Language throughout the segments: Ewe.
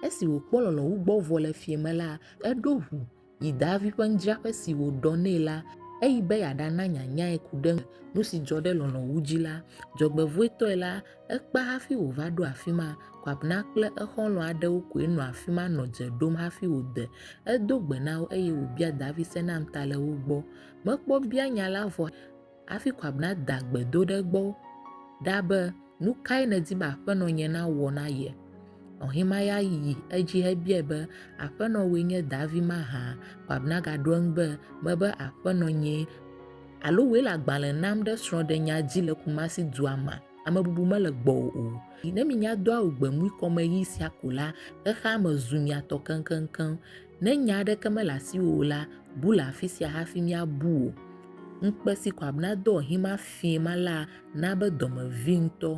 Esi wòkpɔ lɔlɔ̃ wu gbɔ vɔ le fiẽ me la, eɖo ŋu yi Daavi ƒe nudzraƒe si wòɖɔ nɛ la eyi be yeaɖana nyanyae ku ɖe eŋu. Nu si dzɔ ɖe lɔlɔ̃ wu dzi la, dzɔgbevɔ̃etɔe la, ekpea hafi wòva ɖo afi ma. Kwabna kple exɔlɔ̃ aɖewo koe nɔ afi ma nɔ dze ɖom hafi wòde. Edo gbe na wo eye wòbia Daavi se nam ta le wo gbɔ. Mekpɔ bianya la vɔ. Hafi Kwabena da gbe do ɖe egbɔ ɖa be, Nu kae nèdi be aƒenɔ nye nawɔ na ye? Ɔhimaya yi edzi hebiae be, Aƒenɔ wòe nye davi mahã? Kwabena gaɖo eŋu be, Mebe aƒenɔ nyee. Alo wòe le agbalẽ nam ɖe srɔ̃ɖenya dzi le Kumasi dua mea? Amebubu mele gbɔwò o. Ne minya do awu gbemui kɔmeɣi sia ko la, xexea me zu mia tɔ keŋkeŋkeŋ. Ne nya aɖeke mele asiwò o la, bu le afisia hafi míabu wò. Ŋkpe si ko abna do ɔhim afii ma la na be dɔme vi ŋutɔ.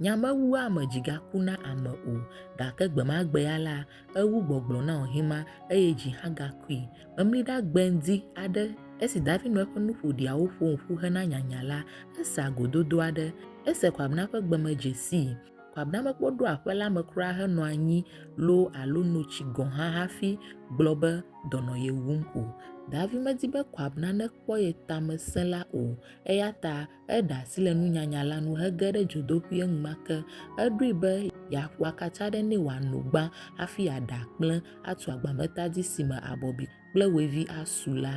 Nya mewu ame dzi gaku na ame o, gake gbemagbe ya la, ewu gbɔgblɔ na ɔhim ma, eye dzi hã gakui. Memliɖa gbe ŋdi aɖe esi David nɔ eƒe nuƒoɖiawo ƒom ƒu hena nyanya la, ese agododo aɖe. Ese ko abna ƒe gbe me dze sii. Kpɔ abe ne ame kpɔ ɖo aƒe la me kura henɔ anyi loo alo no tsi gɔ̃ hã hafi gblɔ be dɔnɔ ye wum o. Davi medi be Koab nane kpɔ ye tame sẽ la o, eya ta eɖe asi le nunyanya la ŋu hege ɖe dzodoƒui enumake. Eɖoe be yeaƒo akatsa aɖe nɛ wòano gbã hafi yeaɖe akplẽ atu agbameta dzi si me abɔbi kple wevi asu la.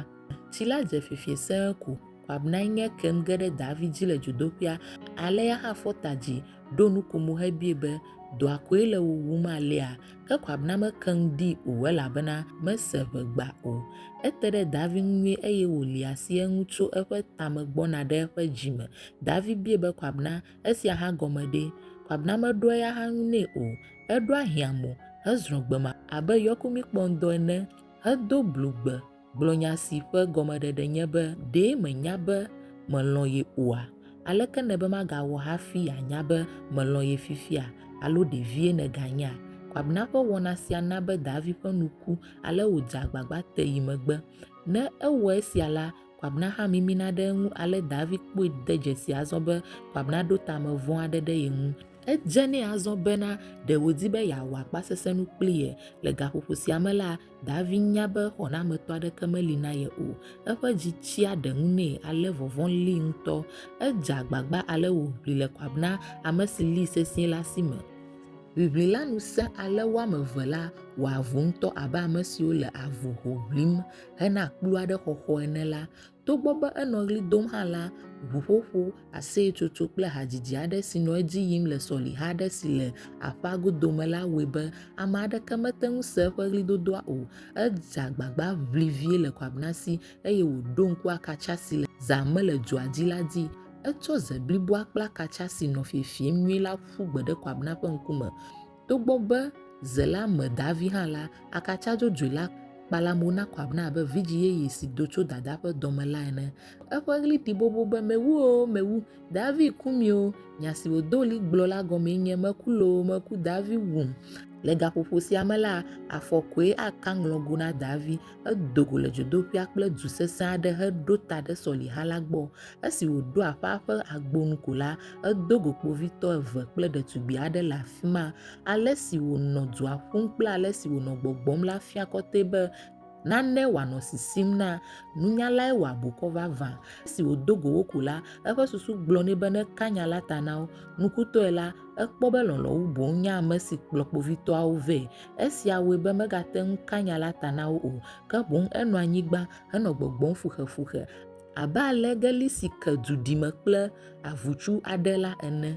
Tsi la dze fifie sẽ ko wòabnae nye kem ge ɖe David dzi le dzodoƒea. Ale ya hã fɔ ta dzi, ɖo nukomo hebie be, Dɔa koe le wò wum alea? Ke wòabna mekeŋ ɖi o, elabena mese ʋegba o. Ete ɖe David ŋu nyuie eye wòli asi eŋu tso eƒe tame gbɔna ɖe eƒe dzi me. David bie be wòabna, Esia hã gɔme ɖe? Wòabna meɖoa eya hã ŋu nɛ o. Eɖoa hiãmo hezrɔ̃ gbe ma abe yɔkumikpɔŋdɔ ene hedo blu gbe gblɔ nya si ƒe gɔmeɖeɖe nye be ɖe mènya be melɔ̃ ye oa? Aleke nèbe magawɔ hafi yeanya be melɔ̃ ye fifia alo ɖe vie nèganyea? Kwabena ƒe wɔna sia na be Davi ƒe nu ku ale wòdze agbagba te yi megbe. Ne ewɔ esia la, Kwabena hã mimina ɖe eŋu ale Davi kpɔe de dzesi azɔ be Kwabena ɖo ta me vɔ̃ aɖe ɖe ye ŋu. Edze nɛ azɔ bena ɖe wòdi be yeawɔ akpasesẽnu kpli ye. Le gaƒoƒo sia me la, Davin nya be xɔnametɔ aɖeke meli na ye o. Eƒe dzi tsia ɖe ŋu nɛ ale vɔvɔ̃ lée ŋutɔ. Edze agbagba ale wòʋli le Koab na ame si lée sesĩe la si me. Ʋiʋli la nu sẽ ale wo ame eve la wɔ avu ŋutɔ abe ame siwo le avu ho ʋlim hena kplu aɖe xɔxɔ ene la. Togbɔ be enɔ ɣli dom hã la, ʋuƒoƒo, aseyetsotso kple hadzidzi aɖe si nɔ edzi yim le sɔliha aɖe si le aƒea godo me la wɔe be ame aɖeke mete ŋu se eƒe ɣlidodoa o. Edze agbagba ʋli vie le Quabbnasi eye wòɖo ŋku akatsa si le zã me le dua dzi la dzi. Etsɔ ze bliboa kple akatsa si nɔ fiefiem nyuie la ƒu gbe ɖe Quabbna ƒe ŋkume. Togbɔ be ze la me davi hã la, akatsa dzodzoe la kpala mo na kɔ abna abe vidzĩ yeye si do tso dadaa ƒe dɔ me la ene. Eƒe ɣli ɖi bobo be, Mewu o, mewu! Davi ku mi o! Nya si wòdo ɣli gblɔ la gɔmee nye, Meku loo, meku, Davi wum! Le gaƒoƒo sia me la, afɔ koe aka ŋlɔgo na Davi. Edo go le dzodoƒea kple du sesẽ aɖe heɖo ta ɖe sɔliha la gbɔ. Esi wòɖo aƒea ƒe agbo nu ko la, edo go kpovitɔ eve kple ɖetugbi aɖe le afi ma. Ale si wònɔ dua ƒum kple ale si wònɔ gbɔgbɔm la fia kɔtɛ be nane wòanɔ sisim na. Nunyalae wɔ abukɔ vavã. Esi wòdo go wo ko la, eƒe susu gblɔ nɛ be neka nya la ta na wo. Nukutɔe la, ekpɔ be lɔlɔ̃ wu boŋ nye ame si kplɔ kpovitɔawo vɛ Esia wɔe be megate ŋu ka nya la ta na wo o, ke boŋ enɔ anyigba henɔ gbɔgbɔm fuxefuxe abe ale geli si ke du ɖime kple avutsuu aɖe la ene.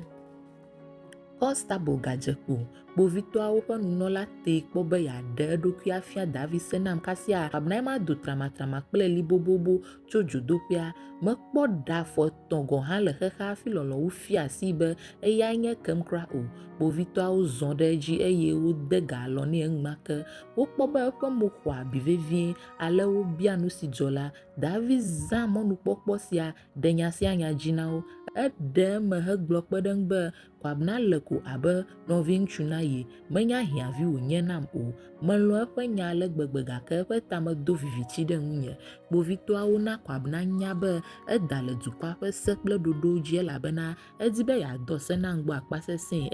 Konstabel gadze kpo. Kpovitɔawo ƒe nunɔla tee kpɔ be yeaɖe eɖokui afia David se nam kasia Abner mado tramatrama kple li bobobo tso dzodoƒea. Mekpɔ ɖa fɔ. tɔ̃ gɔ̃ hã le xexea hafi lɔlɔ̃nu fia asii be eyae nye ekem kura o. Kpovitɔawo zɔ ɖe edzi eye wode ga alɔ̃ nɛ enumake. Wokpɔ be eƒe mo xɔ abi vevie, ale wobia nu si dzɔ la. David zã mɔnukpɔkpɔ sia ɖe nya sia nya dzi na wo. Eɖe eme hegblɔ kpe ɖe eŋu be, Kwabena le ko abe nɔviŋutsu na ye. Menya hiãvi wònye nam o. Melɔ̃ eƒe nya ale gbegbe gake eƒe ta medo viviti ɖe ŋunye. Kpovitɔawo na Kwabena nya be eda le dukɔa ƒe se kple ɖoɖowo dzi elabena edi be yeadɔ se na ŋgɔ akpasesẽe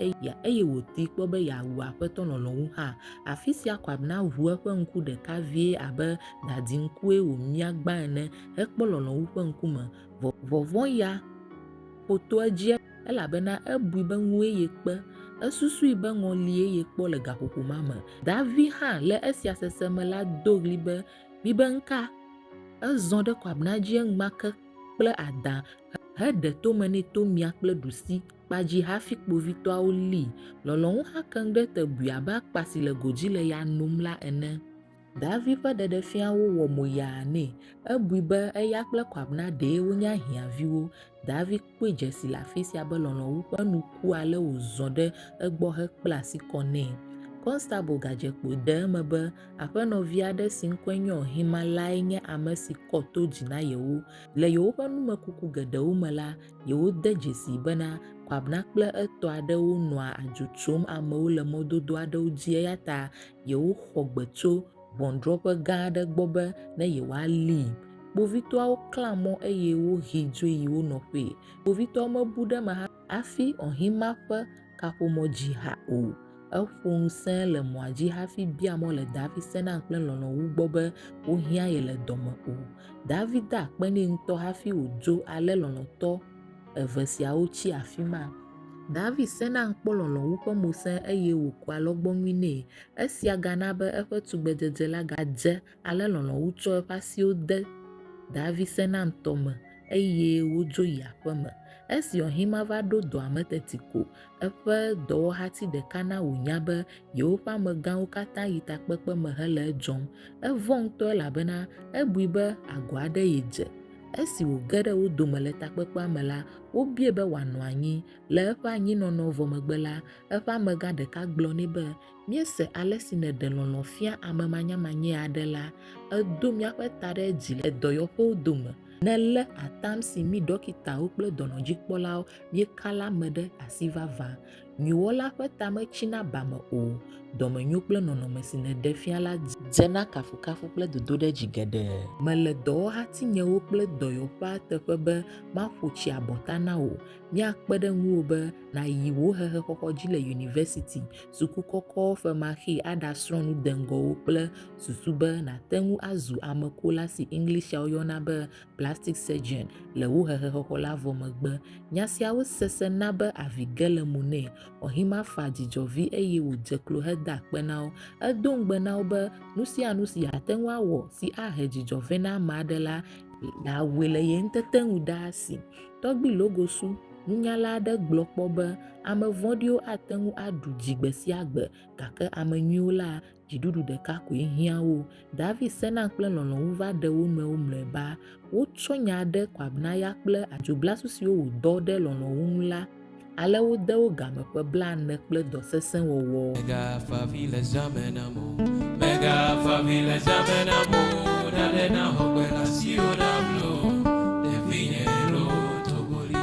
eye wòtee kpɔ be yeawu Aƒetɔ lɔlɔ̃nu hã. Afisia Kwabena ʋu eƒe ŋku ɖeka vie abe dadiŋkue wòmia gbã ene hekpɔ lɔlɔ̃nu ƒe ŋkume. Vɔvɔ̃ ya ƒo to edzi. elabena ebui be ŋue yekpe, esusui be ŋɔlie yekpɔ le gaƒoƒo ma me. Davi hã, le esia sese me la, do ɣli be, Mibe ŋka! Ezɔ ɖe kɔabna dzi enumake kple adã heɖe tome nɛ to mia kple ɖusi kpa dzi hafi kpovitɔawo lée. Lɔlɔ̃nu hã keŋ ɖe te bui abe akpa si le go dzi le ya nom la ene. Davi ƒe ɖeɖefiawo wɔ mo yaa nɛ. Ebui be eya kple Kwabena ɖee wonye ahiãviwo. Davi kpɔe dze si le afi sia be lɔlɔ̃wu ƒe nu ku ale wòzɔ ɖe egbɔ hekpla asi kɔ nɛ. Kɔnstabel gadze kpo de eme be aƒenɔvi aɖe si ŋkɔe nye Ohima lae nye ame si kɔ to dzi na yewo. Le yewoƒe numekuku geɖewo me la, yewode dzesii bena Kwabena kple etɔ aɖewo nɔa adzo tsom amewo le mɔdodo aɖewo dzi eyata yewoxɔ gbe tso ʋɔnudrɔ̃ƒe gã aɖe gbɔ be ne yewoalii. Kpovitɔawo klã mɔ eye wohee dzoe yi wo nɔƒee. Kpovitɔawo mebu ɖe eme hafi Ɔhima ƒe kaƒomɔ dzi hã o. Eƒo nu sẽe le mɔa dzi hafi bia mɔ le Davi sena kple lɔlɔ̃ wu gbɔ be wohiã ye le dɔ me o. Davi de akpe nɛ ŋutɔ hafi wòdzo ale lɔlɔ̃tɔ. eve siawo tsi afi ma. David sena kpɔ lɔlɔ̃wu ƒe ŋusẽ eye wòkua alɔgbɔnui nɛ. Esia gana be eƒe tugbedzedze la gadze ale lɔlɔ̃wu tsɔ eƒe asiwo de David sena ŋutɔ me eye wodzo yi aƒeme. Esi Ɔhima va ɖo dɔa me teti ko eƒe dɔwɔhati ɖeka na wònya be yewoƒe amegãwo katã yi takpekpe me hele edzɔm. Evɔ̃ ŋutɔ elabena ebui be agɔ aɖe yedze. Esi wòge ɖe wo dome le takpekpea me la, wobiae be wòanɔ anyi. Le eƒe anyinɔnɔ vɔ megbe la, eƒe amegã ɖeka gblɔ nɛ be, Míese ale si nèɖe lɔlɔ̃ fia ame manyamanye aɖe la. Èdo míaƒe ta ɖe dzi le dɔyɔƒewo dome. Nèlé atam si mí ɖɔkitawo kple dɔnɔdzikpɔlawo míeka la me ɖe asi vavã. Nyuiwɔla ƒe ta metsina ba me o, dɔmenyo kple nɔnɔme si nèɖe fia la dzena kafukafu kple dodoɖedzi geɖe. Mele dɔwɔhatinyewo kple dɔyɔƒea teƒe be maƒo tsi abɔta na wò. Míakpe ɖe ŋuwò be nàyi wò hehexɔxɔ dzi le yunivɛsiti, suku kɔkɔ femaxee aɖasrɔ̃ nu deŋgɔwo kple susu be nàte ŋu azu ame kola si Englishao yɔna be plastic surgeon, le wu hehexɔxɔ la vɔ megbe. Nya siawo sese na be avi ge le mo nɛ. Ɔhima-Fa dzi dzɔ vi eye wòdze klo heda akpe na wo. Edo ŋugbe na wo be nu sia nu si yeate ŋu awɔ si ahe dzi dzɔ vɛ na ame aɖe la, yeawɔe le ye ŋutete nu ɖaa si. Tɔgbui Logosu, nunyala aɖe gblɔ kpɔ be, Ame vɔ̃ɖiwo ate ŋu aɖu dzi gbe sia gbe, gake ame nyuiwo la, Dziɖuɖu ɖeka koe hiã wo. David sena kple lɔlɔ̃ wu va ɖe wo nɔewo mlɔeba. Wotsɔ nya ɖe kɔ Abnaya kple adzoglasu siwo wòdɔ ɖe lɔlɔ̃ wu ŋu la, ale wode wo game ƒe blaene kple dɔ sesẽ wɔwɔ. Mègafa avi le zã me nam o. Mègafa avi le zã me nam o. Nanɖe naxɔ gbe le asiwò nam loo. Ɖevinye loo, to go ɖi.